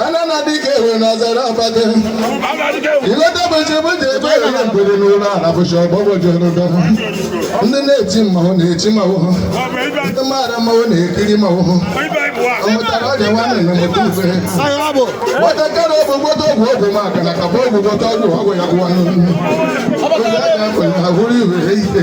anana dịka ewe na azara abade ileta bụchi bụji ebe ewe na mgbede n'ụlọ ala bụchi ọgbọgbọjọ n'ụdọ ndị na-eti mmanwụ na-eti mmanwụ ndị maara mmanwụ na-ekiri mmanwụ ọmụtara ọrịa nwanne na mụta ife nwatakịrị ọgwụ gwọta ọgwụ ọgwụ maka na kaba ọgwụ gwọta ọgwụ ọgwụ ya gwụwa n'ụlọ oge a ga-akpọ ya ahụrụ iwe ike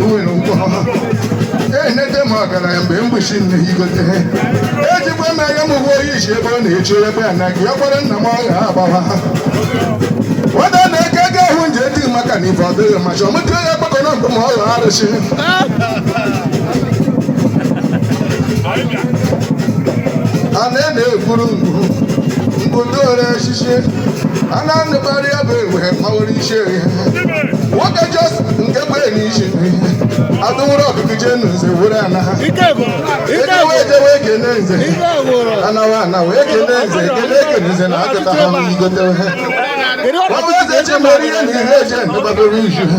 nwere ụgwọ enete m ọgaranya mgbe mgbochi nne igote ejikwa m anya m ụgwọ oyi ji ebe ọ na-eche ebe a na gị ya kwara nna m ọgha agbawa nwata na-eke ego ahụ nje dị maka na ife ọ dịghị ma chọọ mụta ya gbakọ na mgbe ma ọgha arụsị a na-ena ekwuru ngwu ngwụdore echichi a na-anụkarị ya bụ egbe mawere chere nwoke jos nke bụ enyi iche adụwụrụ ọkụkụ jee na nze were ana ha ejewe ejewe ekene nze anawa anawa ekene nze ekene ekene nze na akụta ha n'igote ha ọbụ eze chemere ihe na ihe eje ndụbadoro izu ha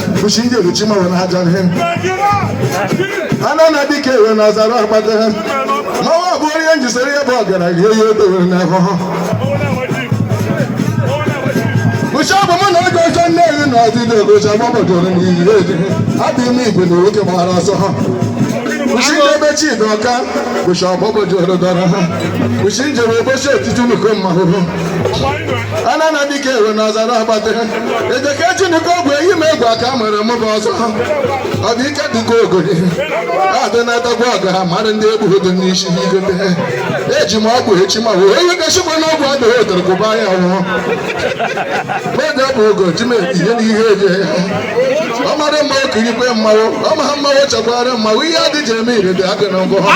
fushi ndị eruchi mmanwụ na haja ihe ana na dike ewe na azara akpata ha mmanwụ bụ onye njisere ya bụ ọgaranya eyi o dowere na ahụhụ Uche bụ mụ na oge ọjọọ nne-eri na ọdịdị ogoji agbabadoro n'iyi edi adị ime igwe na nwoke gbara ọsọ ha Uche ebe chidi ọka bụcha ọgbabadoro dọrọ ha Uche njere ụbọchị etiti nnukwu mmanwụ anana dịka ewe na ọzara agbata ejeke chineke ogwe ehi ma egwu aka mere mụ bụ ọzọ ọ dị ike dịka ogori adị na-adagbu ọga mara ndị egbughị dị n'isi igote eji m ọgwụ echi mmanwụ onye ga-asịkwa na ọgwụ adịghị odere kụba ya nwụọ mmadụ bụ ogo ji m etinye n'ihe eje ya ọ mara mmanwụ kirikwe mmanwụ ọ maha mmanwụ chekwara mmanwụ ihe adị ji eme ire dị adị na ngụ ha